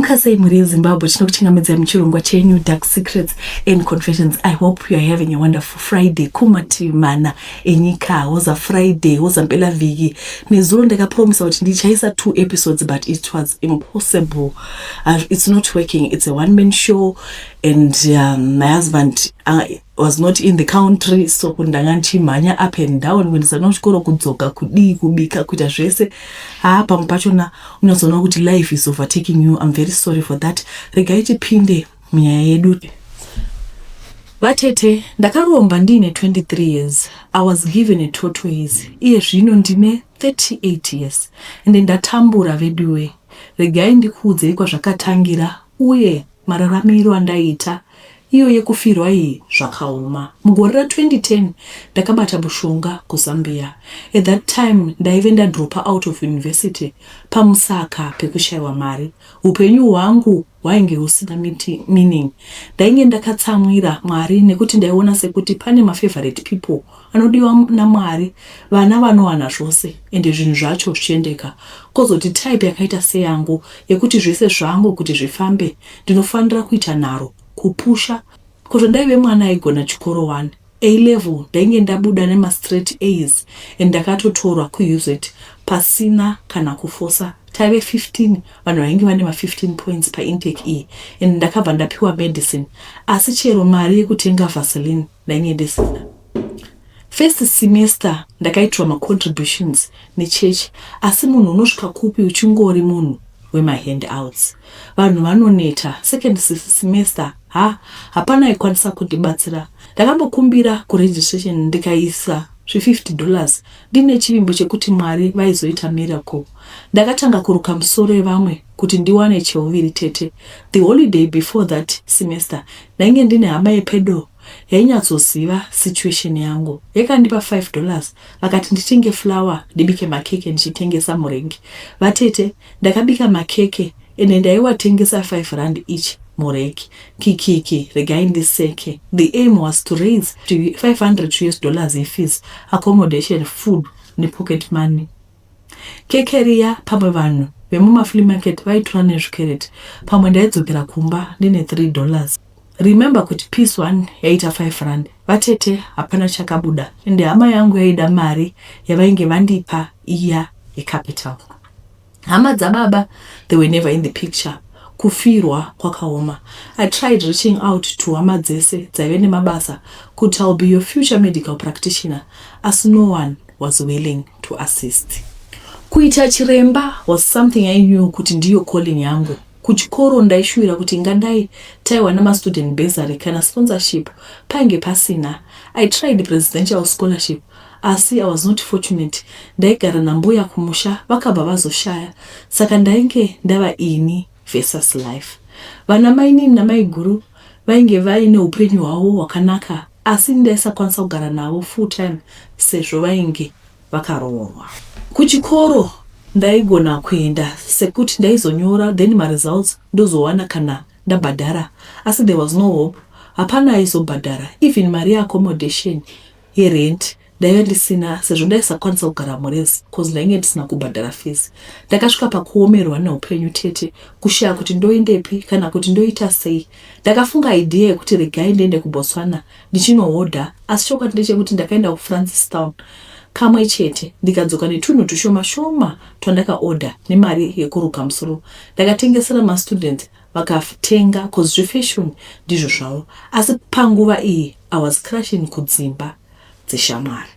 Muka sei mhuri yezimbabwe tinokuchingamidza muchirongwa chenew dark secrets and confessions i hope youare having a wonderful friday kumativi mana enyika woza friday woza mpela vhiki nezuro ndakapromisa kuti ndichaisa two episodes but it was impossible uh, it's not working it's a one man show and um, my husband uh, was not in the country so kuti ndanga ndichimhanya up and down kuendesa no chikoro kudzoka kudii kubika kuita zvese haa pamwe pachona unatsoona kuti life is overtaking you im very sorry for that regai tipinde munyaya yedu vatete ndakaromba ndiine 23 years i was given a totois iye zvino ndine 38 years ende ndatambura veduwe regai ndikuudzei kwazvakatangira uye Mararamiro andaiita iyo yekufirwa iyi zvakaoma. Mugore ra 2010 ndakabata mushonga ku Zambia. At that time ndaive nda dropper out of university pamusaka pekushaiwa mari. Hupenyu hwangu hwainge husina meaning. Ndainge ndakatsamwira Mwari nekuti ndaiona sekuti pane ma favorite people anodiwa naMwari vana vanowana zvose ende zvinhu zvacho zvichiendeka kozoti type yakaita seyangu yekuti zvese zvangu kuti zvifambe ndinofanira kuita nharo kupusha kozvo ndaive mwana aigona chikoro wani A level ndainge ndabuda nema straight A's and ndakatotorwa kuUZ pasina kana kufosa taive 15 vanhu vainge vane ma 15 points paintake iyi and ndakabva ndapiwa medicine asi chero mari yekutenga vaseline ndainge ndisina first semester ndakaitirwa macontributions nechurch asi munhu unosvika kupi uchingori munhu wemahand outs vanhu vanoneta second semester ha hapana aikwanisa kundibatsira ndakambokumbira kuregistration ndikaisa zve50 dollars ndine chivimbo chekuti mwari vaizoita miracle ndakatanga kuruka musoro yevamwe kuti ndiwane cheuviri tete. The holiday before that semester ndainge ndine hama yepedo yainyatsoziva situation yangu. Yakandipa five dollars vakati nditenge flour ndibike makeke ndichitengesa murengi. Vatete ndakabika makeke ende ndaiwatengesa five rand each mureki. Kikiki regai ndiseke. The aim was to raise 500 us dollars yefees, accommodation, food nepocket money. Keke riya pamwe vanhu vemuma flea market vaitora nezvikereti pamwe ndaidzokera kumba ndine three dollars. Remember kuti piece one yaiita five rand. Vatete hapana chakabuda ende hama yangu yaida mari yavainge vandipa iya yecapital. Hama dzababa they were never in the picture. Kufirwa kwakaoma. I tried reaching out to hama dzese dzaive nemabasa kuti I'll be your future medical practitioner asi no one was willing. to assist kuita chiremba was something i knew kuti ndiyo calling yangu kuchikoro ndaishuwira kuti ingadai taiwana mastudent besaly kana sponsorship painge pasina i tried presidential scholarship asi i was not fortunate ndaigara nambuya kumusha vakabva vazoshaya saka ndainge ndava ini versus life vana mainini namaiguru vainge vaine upenyu hwavo hwakanaka Asi ndaisakwanisa kugara navo full time sezvo vainge vakaroorwa. Kuchikoro ndaigona kuenda sekuti ndaizonyora then maresults ndozowana kana ndabhadhara asi there was no hope hapana aizobhadhara even mari yeaccommodation, yerent Ndaive ndisina sezvo ndaisakwanisa kugara murezi coz ndainge ndisina kubhadhara fees. Ndakasvika pakuomerwa neupenyu tete kushaya kuti ndoendepi kana kuti ndoita sei. Ndakafunga idea yekuti regai ndiende kuBotswana ndichinohodha asi chokwadi ndechekuti ndakaenda kuFrancistown kamwe chete ndikadzoka netunhu tushoma shoma twandakaodha nemari yekuruka musoro. Ndakatengesera mastudents vakatenga coz zvefashion ndizvo zvavo asi panguva iyi I was crashing kudzimba. dzeshamwari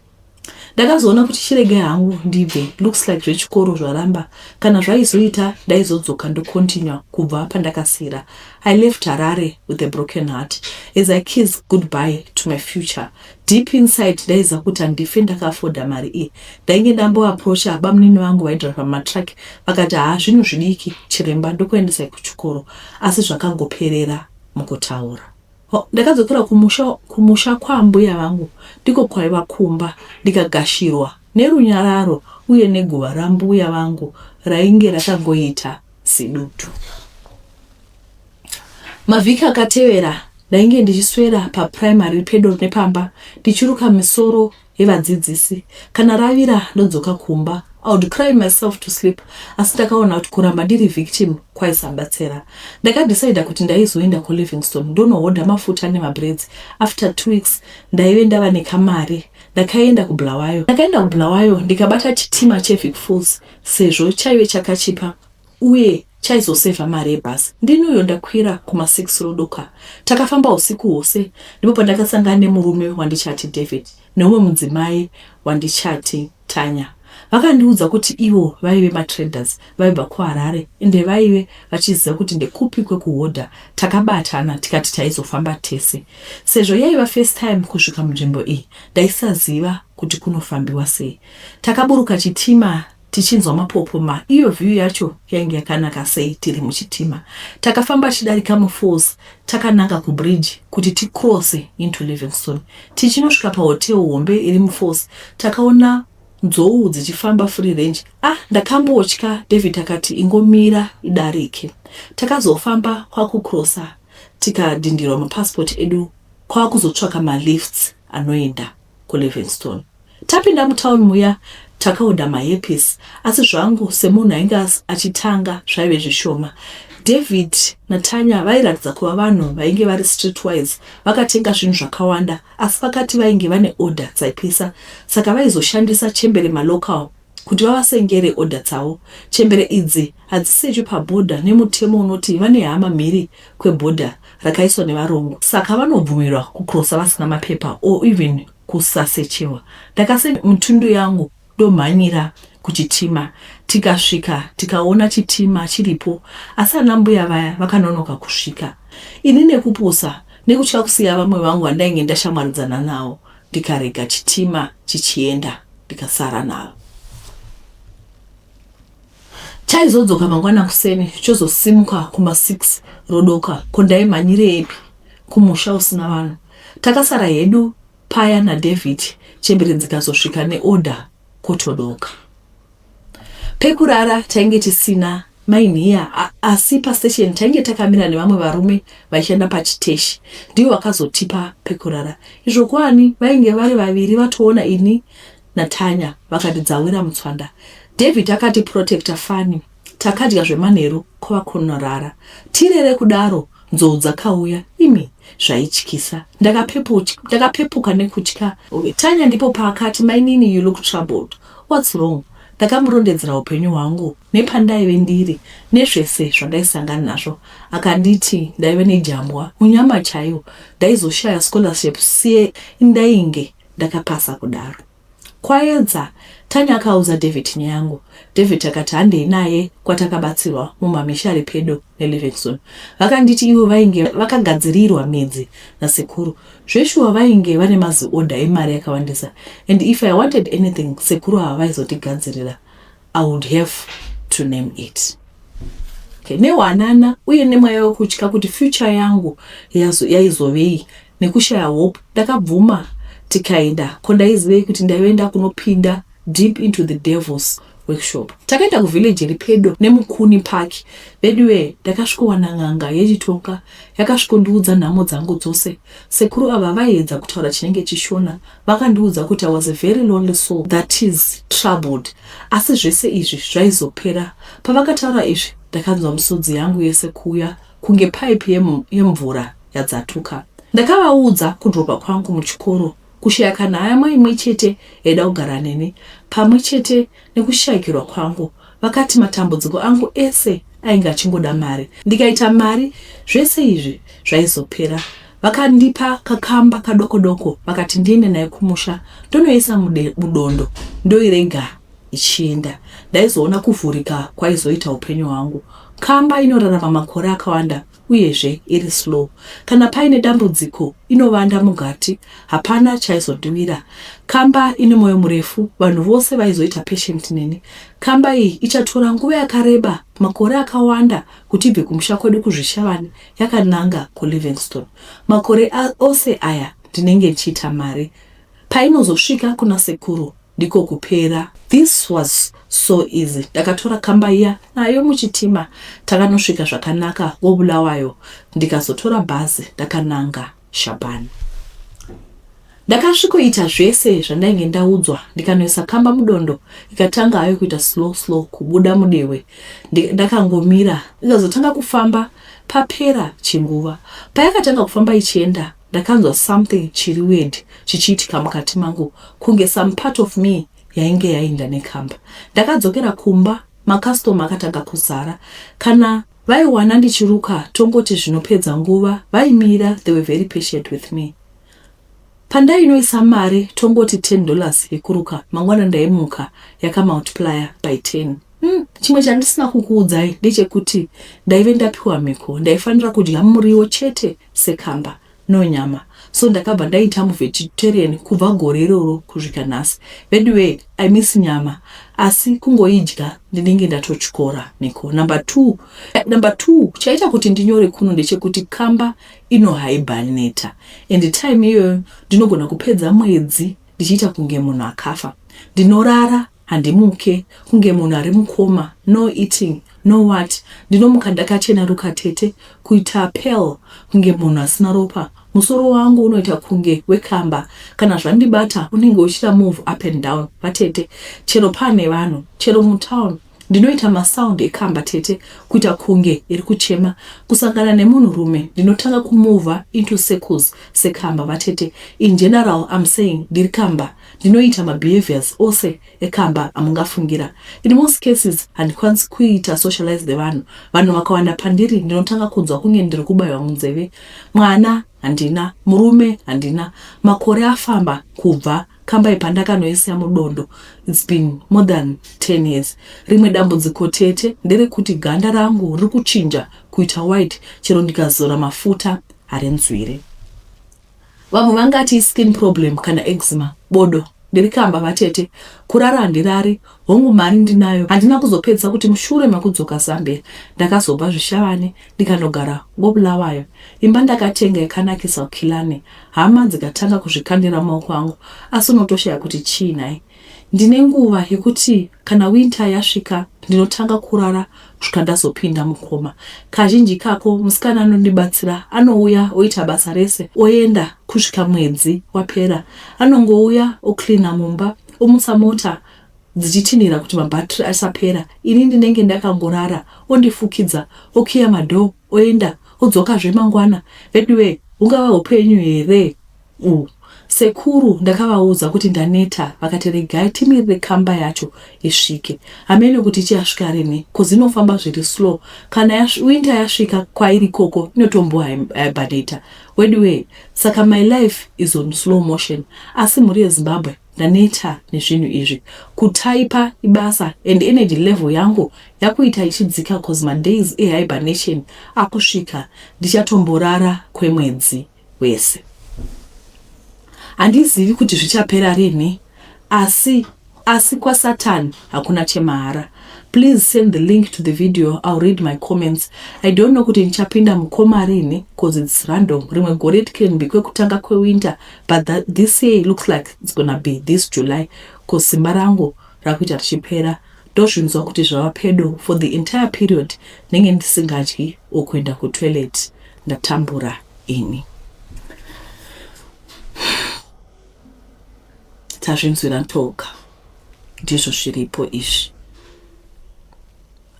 ndakazoona kuti chiregai hangu ndibve looks like zvechikoro zvaramba kana zvaizoita ndaizodzoka ndocontinua kubva pandakasiyira i left harare with a broken heart as i kiss goodbye to my future deep inside ndaiza kuti handife ndakafoda mari iyi ndainge ndamboaprocha bamunini vangu vaidriva matruck vakati haa zvinhu zvidiki chiremba ndokuendesai kuchikoro asi zvakangoperera mukutaura Ndakadzokera kumusha, kumusha kwaambuya vangu, ndiko kwaiva kumba, ndikagashirwa nerunyararo uye neguva rambuya vangu rainge rakangoita sedutu. Mavhiki akatevera ndainge ndichiswera paprimary pedo nepamba ndichiruka misoro He vadzidzisi kana ravira ndodzoka kumba I would cry myself to sleep asi ndakaona kuti kuramba ndiri victim kwaisabatsira. Ndakadecider kuti ndaizoenda kuLivingstone ndonohodha mafuta nemabraids. After two weeks ndaive ndava nekamari ndakaenda kuBulawayo. Ndakaenda kuBulawayo ndikabata chitima cheVicFools sezvo chaive chakachipa. uye chaizosevha mari yebus ndini uyo ndakwira kuma six rodoka takafamba husiku hwose ndipo pandakasangana nemurume wandichati David neumwe mudzimai wandichati Tanya vakandiudza kuti ivo vaive matraders vaibva kuharare ende vaive vachiziva kuti ndekupi kwekuhodha takabatana tikati taizofamba tese sezvo yaiva first time kusvika munzvimbo iyi ndaisaziva kuti kunofambiwa sei takaburuka chitima tichinzwa mapopoma iyo view yacho yainge yakanaka sei tiri muchitima takafamba tichidarika mufalls takananga kubridge kuti ticrosse into livingstone tichinosvika pahotel hombe iri mufalls takaona nzou dzichifamba free range ah ndakambotya david akati ingomira idarike takazofamba kwakucrossa tikadhindirwa mapassport edu kwakuzotsvaka malifts anoenda kuLivingstone. Tapinda mutown muya takaodha maepis asi zvangu semunhu ainge achitanga zvaive zvishoma. David naTanya vairatidza kuva vanhu vainge vari streetwise vakatenga zvinhu zvakawanda asi vakati vainge vane order dzaipisa saka vaizoshandisa chembere malocal kuti vavasengere order dzavo. Chembere idzi hadzisechwi paborder nemutemo unoti vane hama mhiri kweborder rakaiswa nevarungu saka vanobvumirwa kucrossa vasina mapepa or even kusasechewa. Ndakasenda mutundu yangu ndomhanyira kuchitima tikasvika tikaona chitima chiripo asi anambuya vaya vakanonoka kusvika. Ini nekupusa nekutya kusiya vamwe vangu vandainge ndashamwaridzana navo ndikarega chitima chichienda. ndikasara nalo chaizodzoka mangwana kuseni chozosimuka kuma 6 rodoka ko ndaimhanyireepi kumusha usina vanhu takasara hedu paya nadavid chembere dzikazosvika neorder kotodoka pekurara tainge tisina Mai Nhiya, Asi pastation tainge takamira nevamwe varume vaishanda pachiteshi ndivo vakazotipa pekurara izvo kwani vainge vari vaviri vatoona ini naTanya vakati dzawira mutswanda. David akati protector fani takadya zvemanheru kwava kunorara tirere kudaro nzou dzakauya imi zvaityisa ndakapepuka nekutya. Tanya ndipo paakati mainini you look troubled what's wrong? Ndakamurondedzera upenyu hwangu nepandaive ndiri nezvese zvandaisangana nazvo akanditi ndaive nejambwa munyama chaiyo ndaizoshaya scholarship sie ndainge ndakapasa kudaro. Kwayedza, Tanya akaudza David nyaya yangu. David akati handei naye kwatakabatsirwa mumamisha ari pedo. Elevexon vakanditi ivo vainge vakagadzirirwa midzi nasekuru zveshuwa vainge vane maziorder emari yakawandisa and if I wanted anything sekuru ava vaizotigadzirira I would have to name it okay. Nehwanana uye nemweya wekutya kuti future yangu yaizovei nekushaya hope ndakabvuma tikaenda ko ndaizivei kuti ndaive ndakunopinda deep into the devils workshop takaenda kuvillage iri pedo nemukuni park veduwe ndakasvikowana n'anga yechitonga yakasvikondiudza nhamo dzangu dzose sekuru ava vaiedza kutaura chinenge chishona vakandiudza kuti i was a very lonely soul that is troubled asi zvese izvi zvaizopera pavakataura izvi ndakanzwa misodzi yangu yese kuuya kunge paipi yemvura yadzatuka. Ndakavaudza kudropa kwangu muchikoro, kushaya kana hama imwe chete yaida kugara neni, pamwe chete nekushayikirwa kwangu. Vakati matambudziko angu ese ainge achingoda mari, ndikaita mari zvese izvi zvaizopera. Vakandipa kakamba kadoko doko vakati ndiende nayo kumusha ndonoisa mudondo ndoirega ichienda. Ndaizoona kuvhurika kwaizoita hupenyu hwangu. Kamba inorarama makore akawanda uyezve iri slow. Kana paine dambudziko inovanda mugati hapana chaizodiwira. Kamba ine moyo murefu vanhu vose vaizoita patient neni. Kamba iyi ichatora nguva yakareba makore akawanda kuti ibve kumusha kwedu kuZvishavane yakananga kuLivingstone. Makore ose aya ndinenge ndichiita mari. Painozosvika kuna sekuru ndiko kupera. This was so easy ndakatora kamba iya nayo muchitima takanosvika zvakanaka koBulawayo ndikazotora bhazi ndakananga Shaban. Ndakasvikoita zvese zvandainge ndaudzwa ndikanoisa kamba mudondo ikatanga hayo kuita slow slow kubuda mudehwe ndakangomira ikazotanga kufamba papera chinguva payakatanga kufamba ichienda Ndakanzwa something chiri weird chichiitika mukati mangu kunge some part of me yainge yainda nekamba. Ndakadzokera kumba ma customer akatanga kuzara kana vaiwana ndichiruka tongoti zvinopedza nguva vaimira they were very patient with me. Pandainoisa mari tongoti 10 dollars yekuruka mangwana ndaimuka yaka multiplier by 10. Hmm, chimwe chandisina kukuudzai ndechekuti ndaive ndapiwa mhiko ndaifanira kudya muriwo chete sekamba no nyama so ndakabva ndaita muvegetarian kubva gore iroro kuzvika nhasi veduwee i miss nyama asi kungoidya ndinenge ndatotyora mhiko number two eh, number two chaita kuti ndinyore kuno ndechekuti kamba inohaibaneta and time iyoyo ndinogona kupedza mwedzi ndichiita kunge munhu akafa ndinorara Handimuke kunge munhu ari mukoma no eating no what ndinomuka ndakacheneruka tete kuita pale kunge munhu asina ropa musoro wangu unoita kunge wekamba kana zvandibata unenge uchita move up and down vatete chero pane vanhu chero mutown ndinoita masound ekamba tete kuita kunge iri kuchema kusangana nemunhu rume ndinotanga kumova into circles sekamba vatete in general I'm saying ndiri kamba Ndinoita mabehaviours ose ekamba amungafungira. In most cases handikwanisi kuita socialize nevanhu. Vanhu vakawanda pandiri ndinotanga kunzwa kunge ndiri kubaiwa munzeve. Mwana handina, murume handina. Makore afamba kubva kambai pandakanoisiya mudondo. It's been more than 10 years. Rimwe dambudziko tete nderekuti ganda rangu riri kuchinja kuita white chero ndikazora mafuta harinzwire. Vamwe vangati iskin problem kana eczema. Bodo ndiri kamba vatete kurara handirari hongu mari ndinayo handina kuzopedzisa kuti mushure mekudzoka Zambia ndakazobva zvishavane ndikanogara ngoBulawayo imba ndakatenga yakanakisa ukilane hama dzikatanga kuzvikandira maoko angu asi unotoshaya kuti chii nhai Ndine nguva yekuti kana winter yasvika ndinotanga kurara kusvika ndazopinda mukoma. Kazhinji ikako musikana anondibatsira anouya oita basa rese oenda kusvika mwedzi wapera. Anongouya ocleaner mumba omutsa mota dzichitinhira kuti mabattery asapera ini ndinenge ndakangorara ondifukidza okiya madoor oenda odzokazve mangwana. Veduwee hungava hupenyu here Umm sekuru ndakavaudza kuti ndaneta vakati regai timirire kamba yacho isvike hameno kuti ichasvika rinhi coz inofamba zviri slow kana yasv winter yasvika kwairi ikoko inotombo hibernata weduwee saka my life is on slow motion asi mhuri yezimbabwe ndaneta nezvinhu izvi kutaipa ibasa and energy level yangu yakuita ichidzika coz madays ehibernation akusvika ndichatomborara kwemwedzi hwese. Handizivi kuti zvichapera rinhi asi asi kwasatan hakuna chemahara. Please send the link to the video I'll read my comments. I don't know kuti ndichapinda mukoma rinhi cause it's random. Rimwe gore it can be kwekutanga kwewinter but that, this year it looks like it's gonna be this July cause simba rangu rakuita richipera ndozvinzwa kuti zvava pedo for the entire period ndenge ndisingadyi or kuenda kutoilet ndatambura ini tazvinzwira ntoka ndizvo zviripo izvi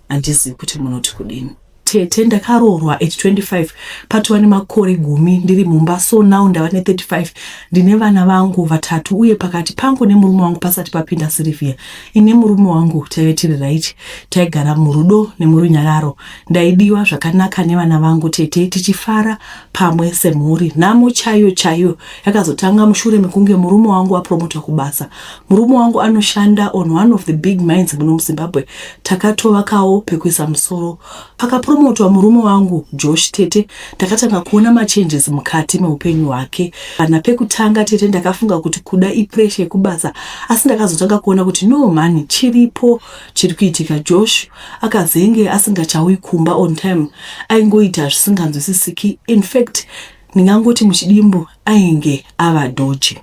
handizivi kuti munoti kudini Tete ndakaroorwa at 25 patova nemakore gumi ndiri mumba so now ndava ne 35 ndine vana vangu vatatu uye pakati pangu nemurume wangu pasati papinda Sylvia ini murume wangu taive tiri right taigara murudo nemurunyararo ndaidiwa zvakanaka nevana vangu tete tichifara pamwe semhuri nhamo chaiyo chaiyo yakazotanga mushure mekunge murume wangu apromotwa kubasa Murume wangu anoshanda on one of the big mines muno muZimbabwe. Takatovakawo pekuisa musoro. Pakapromotwa murume wangu Josh tete ndakatanga kuona machanges mukati meupenyu hwake. Kana pekutanga tete ndakafunga kuti kuda ipressure yekubasa asi ndakazotanga kuona kuti no mhani chiripo chiri kuitika. Josh akazenge asingachauyi kumba on time. Aingoita zvisinganzwisisiki. In fact ndingangoti muchidimbu ainge ava dodgy.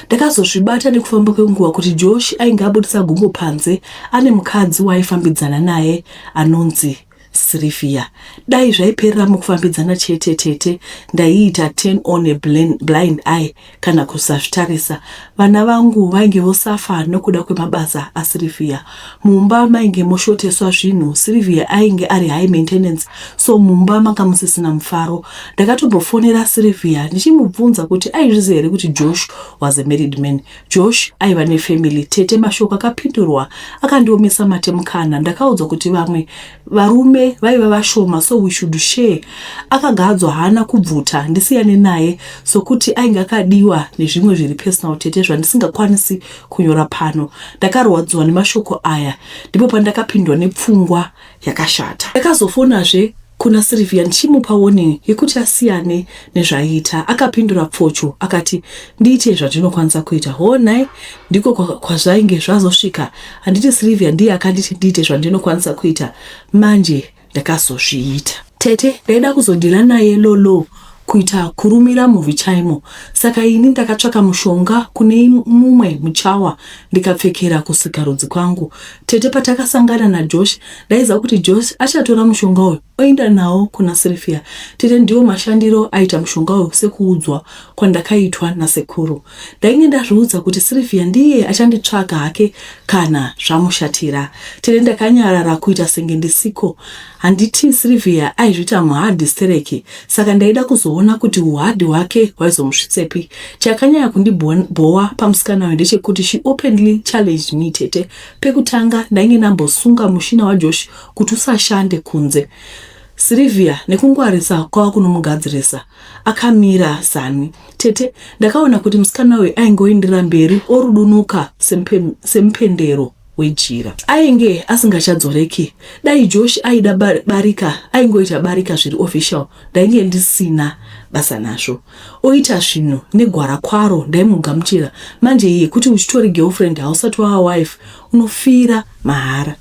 Ndakazozvibata nekufamba kwenguva kuti Josh ainge abudisa gumbo panze ane mukadzi waaifambidzana naye anonzi Sylvia. Dai zvaiperera mukufambidzana chete tete ndaiita turn on a blind eye kana kusazvitarisa. Vana vangu vainge vosafa nokuda kwemabasa aSylvia. Mumba mainge moshoteswa zvinhu Sylvia ainge ari high maintenance so mumba manga musisina mufaro. Ndakatombofonera Sylvia ndichimubvunza kuti aizviziva here kuti Josh was a married man. Josh aiva nefamily tete mashoko akapindurwa akandiomesa mate mukanha ndakaudzwa kuti vamwe varume vaiva vashoma so we should share. Akagadzwa haana kubvuta ndisiyane naye sokuti ainge akadiwa nezvimwe zviri personal tete zvandisingakwanisi kunyora pano. Ndakarwadziwa nemashoko aya ndipo pandakapindwa nepfungwa yakashata. Ndakazofonazve kuna Sylvia ndichimupa warning yekuti asiyane nezvaiita. Akapindura pfocho akati ndiite zvandinokwanisa kuita. Hoo nhai, ndiko kwazvainge zvazosvika. Handiti Sylvia ndiye akanditi ndiite zvandinokwanisa kuita manje ndakazozviita. Tete ndaida kuzodhila naye Lolo kuita kurumira movie chaimo saka ini ndakatsvaka mushonga kune mumwe muchawa ndikapfekera kusikarudzi kwangu tete patakasangana najosh ndaiziva kuti josh achatora mushonga uyu oenda nawo kuna sirifia tete ndiwo mashandiro aita mushonga uyu sekuudzwa kwandakaitwa nasekuru Ndainge ndazviudza kuti Sylvia ndiye achanditsvaga hake kana zvamushatira. Tere ndakanyarara kuita senge ndisiko. Handiti Sylvia aizvita muhard stereki saka ndaida kuzoona kuti uhard hwake hwaizomusvitsepi. Chakanyaya kundibhowa pamusikana uyu ndechekuti she openly challenged me tete. Pekutanga ndainge ndambosunga mushina waJosh kuti usashande kunze. Sylvia nekungwarisa kwava kunomugadzirisa. Akamira Zanny. Tete, ndakaona kuti musikana uyu aingoindira mberi orudunuka semupendero wejira. Ainge asingachadzoreki. Dai Josh aida barika, aingoita barika zviri official, ndainge ndisina basa nazvo. Oita zvinhu negwara kwaro ndaimugamuchira. Manje yekuti uchitori girlfriend hausati wava wife, unofira mahara.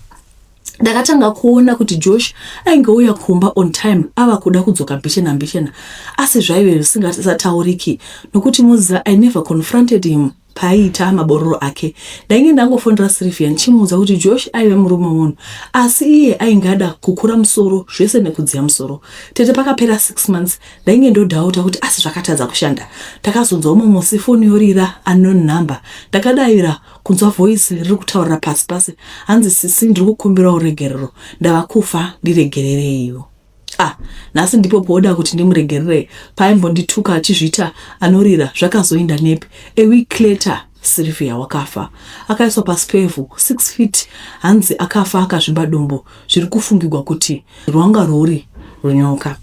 ndakatanga kuona kuti josh ainge uya kumba on time ava kuda kudzoka mbichena mbichena asi zvaive zvisingatauriki nokuti muza i never confronted him paaiita mabororo ake ndainge ndangofonera sylvia ndichimuudza kuti josh aive murume munhu asi iye ainge ada kukura musoro zvese nekudziya musoro tete pakapera six months ndainge ndodhauta kuti asi zvakatadza kushanda ndakazonzwa umwe musi foni yorira unknown number ndakadaira kunzwa voice riri kutaurira pasi pasi hanzi sisi ndiri kukumbirawo regerero ndava kufa ndiregerereiwo ah nhasi ndipo pooda kuti ndimuregererei paimbondituka achizviita anorira zvakazoinda nepi eweek later sirivia wakafa akaiswa pasi pevhu six feet hanzi akafa akazvimba dumbu zviri kufungigwa kuti rwanga rwuri runyoka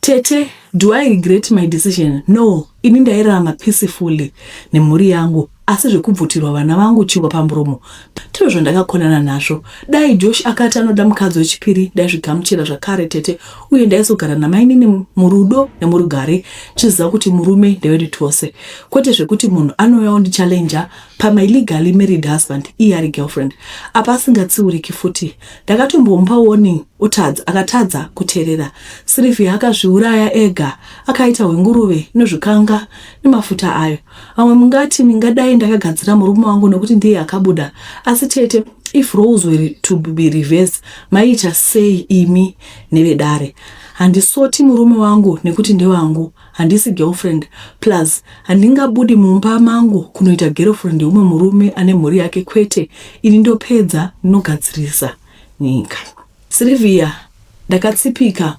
Tete, do I regret my decision? No, ini ndairarama peacefully nemhuri yangu asi zvekubvutirwa vana vangu chingwa pamuromo ndizvo zvandakakonana nazvo. Dai Josh akati anoda mukadzi wechipiri ndaizvigamuchira zvakare tete uye ndaizogara namainini murudo nemurugare tichiziva kuti murume ndewedu tose kwete zvekuti munhu anouya ondichallenger pamai legally married husband iye ari girlfriend apa asingatsiuriki futi ndakatombomupa warning otadza akatadza kuterera sirivhia akazviuraya ega akaita hwenguruve inozvikanga nemafuta ayo vamwe mungati ndingadai ndakagadzira murume wangu nokuti ndiye akabuda asi tete if roles were to be reverse maiita sei imi nevedare handisoti murume wangu nekuti ndewangu Handisi girlfriend plus handingabudi mumba mangu kunoita girlfriend yeumwe murume ane mhuri yake kwete ini ndopedza ndinogadzirisa nyika. Sylvia ndakatsipika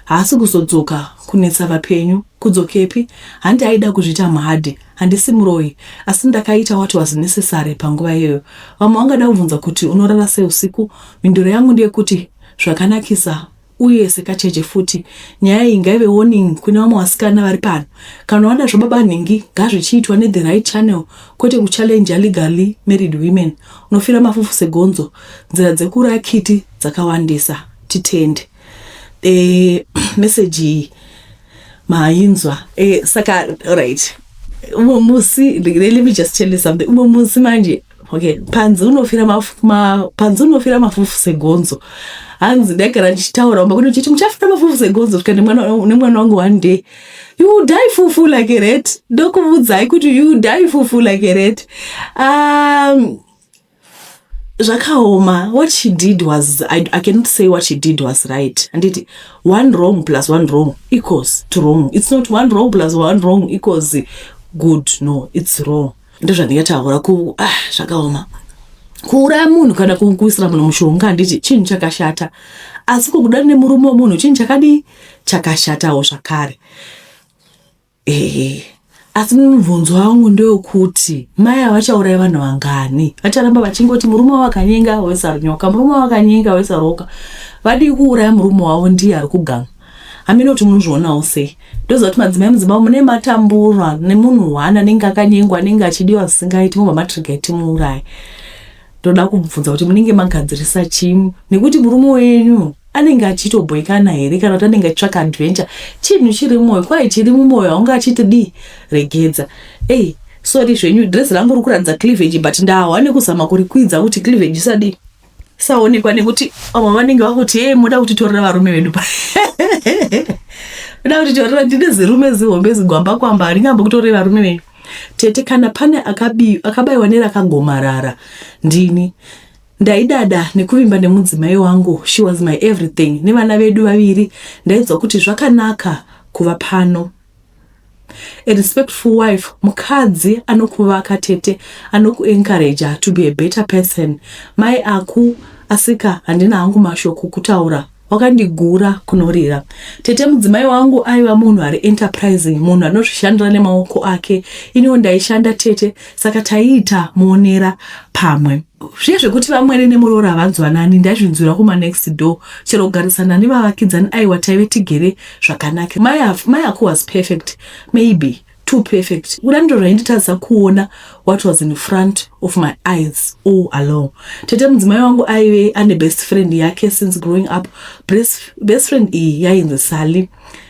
haasi kuzodzoka kunetsa vapenyu kudzokepi handi aida kuzviita mhadi handisi muroyi asi ndakaita what was necessary panguva iyoyo vamwe vangada kubvunza kuti unorara sei usiku mhinduro yangu ndeyekuti zvakanakisa Uye sekacheche futi, nyaya iyi ngaive warning kune vamwe vasikana vari pano. Kana wada zvababa nhingi ngazvichiitwa ne the right channel kwete ku challenger legally married women. Unofira mafufu segonzo. Nzira dzekuuraya kiti dzakawandisa. Titende. Eeh message iyi mainzwa. Eeh saka alright. Umwe musi, let me just tell you something. Umwe musi manje. okay panzi unofira mafu, ma, panzi unofira mafufu segonzo hanzi ndaigara ndichitaura umba kuti muchafira mafufu segonzo svika nemwana wangu one day you die fufu like a rat ndokuvudzai kuti you die fufu like a rat um, zvakaoma what she did was I, i cannot say what she did was right handiti one wrong plus one wrong equals to wrong it's not one wrong plus one wrong equals good no it's wrong ndozvandingataura ku ah, zvakaoma kuuraya munhu kana kuisira munhu mushonga handiti chinhu chakashata asi kukuda nemurume wemunhu chinhu chakadii chakashatawo zvakare ehe asi mubvunzo wangu ndewekuti mai avachauraya vanhu vangani vacharamba vachingoti murume wavo akanyenga wesarunyoka murume wavo akanyenga wesaroka vadii kuuraya murume wavo ndiye ari kuganga hameno kuti munozvionawo sei ndoziva kuti madzimai mudzimba mune matambura nemunhu one anenge akanyengwa anenge achidiwa zvisingaiti mobva matriga timuurayi ndoda kubvunza kuti munenge magadzirisa chii nekuti murume wenyu anenge achitobhoikana here kana kuti anenge achitsvaka adventure chinhu chiri mwoyo kwaye chiri mumwoyo aunge achiti dii regedza ey sori zvenyu dress rangu rikuratidza cleavage but ndahwa nekuzama kurikwidza kuti cleavage isadii saonekwa nekuti vamwe vanenge vakuti hee moda kutitorera varume vedu pa moda kutitorera ndine zirume zihombe zigwamba kwamba haringambo kutorei varume venyu tete kana pane akabayiwa nerakagomarara ndini ndaidada nekuvimba nemudzimai wangu she was my everything nevana vedu vaviri ndaidzwa kuti zvakanaka kuva pano A respectful wife mukadzi anokuvaka tete anoku encourager to be a better person mai aku asika handina hangu mashoko kutaura wakandigura kunorira tete mudzimai wangu aiva munhu ari enterprising munhu anozvishandira nemaoko ake iniwo ndaishanda tete saka taiita muonera pamwe zviye zvekuti vamwene nemuroora havanzwanani ndaizvinzwira kuma next door chero kugarisana nevavakidzani aiwa taive tigere zvakanaka mai Af- mai ako was perfect maybe too perfect kuda ndiro rainditadza kuona what was in front of my eyes all along tete mudzimai wangu aive ane best friend yake since growing up best, best friend iyi yainzi sally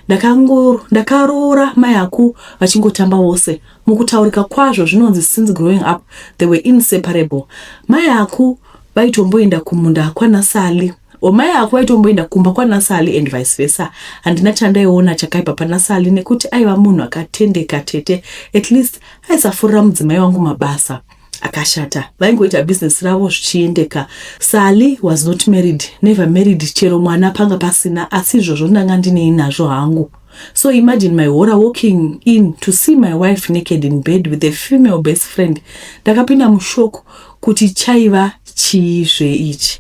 Ndakango- ndakaroora mai aku vachingotamba vose mukutaurika kwazvo zvinonzi since growing up they were inseparable mai aku vaitomboenda kumunda kwana sally Homai hako vaitomboenda kumba kwanaSally and vice versa. Handina chandaiona chakaipa panaSally nekuti aiva munhu akatendeka tete at least aisafurira mudzimai wangu mabasa akashata. Vaingoita business ravo zvichiendeka. Sally was not married, never married chero mwana panga pasina asi izvozvo ndanga ndinei nazvo hangu. So imagine my horror walking in to see my wife naked in bed with a female best friend. Ndakapinda mushock kuti chaiva chii zve ichi.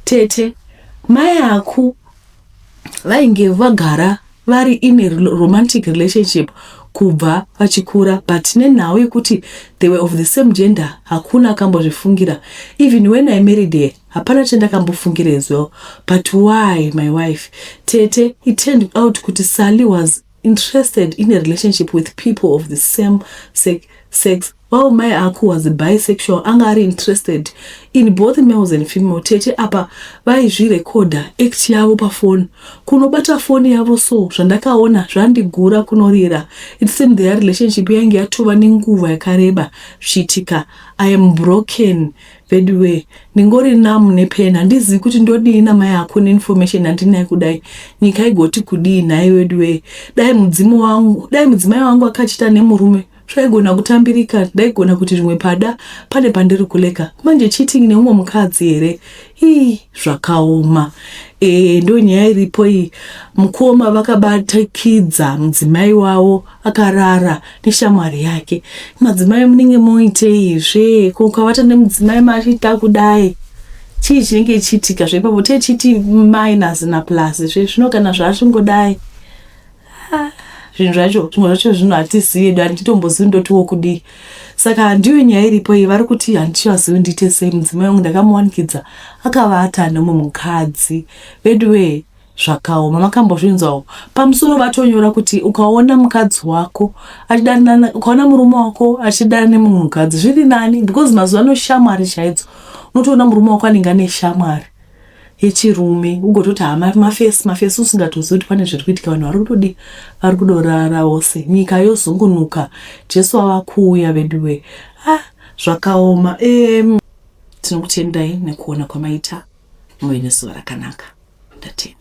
Tete, mai aku vainge vagara vari in a romantic relationship kubva vachikura but nenhau yekuti they were of the same gender hakuna akambozvifungira even when i married her Hapana chandakambofungira as well but why my wife tete it turned out kuti Sally was interested in a relationship with people of the same sex, sex while my aku was bisexual anga ari interested in both males and female tete apa vaizvirekodha act yavo pafoni kunobata foni yavo so zvandakaona zvandigura kunorira it seemed their relationship yainge yatova nenguva yakareba zvichiitika i am broken Veduwee ndingori numb nepain handizivi kuti ndodii namai ako neinformation yandinayo kudai nyika igoti kudii nhai veduwee dai mudzimu wangu dai mudzimai wangu akachita nemurume zvaigona kutambirika ndaigona kuti rimwe pada pane pandiri kuleka manje cheating neumwe mukadzi here ii zvakaoma e, ndo nyaya iripo iyi mukoma vakabatikidza mudzimai wavo akarara neshamwari yake madzimai munenge moitei zve ko ukavata nemudzimai machiita kudai chii chinenge chiitika zveipapo techiti minus na plus zve zvino kana zvaachingodai Ah, zvinhu zvacho zvimwe zvacho zvinhu hatizivi edu handitombozivi ndotiwo kudii saka ndiyo nyaya iripo iyi vari kuti handichazivi ndiite sei mudzimai wangu ndakamuwanikidza akavata nemumwe mukadzi veduwee Zvakaoma makambozvinzwawo pamusoro vatonyora kuti ukaona mukadzi wako achidanana ukaona murume wako achidana nemumwe mukadzi zviri nani because mazuva ano shamwari chaidzo unotoona murume wako anenge ane shamwari yechirume ugototi hama mafesi mafesi usingatozivi kuti pane zviri kuitika vanhu vari kutodii vari kudorara vose nyika yozungunuka jesu ava kuuya veduwe ah zvakaoma um, tinokutendai nekuona kwamaita muve nezuva rakanaka ndatenda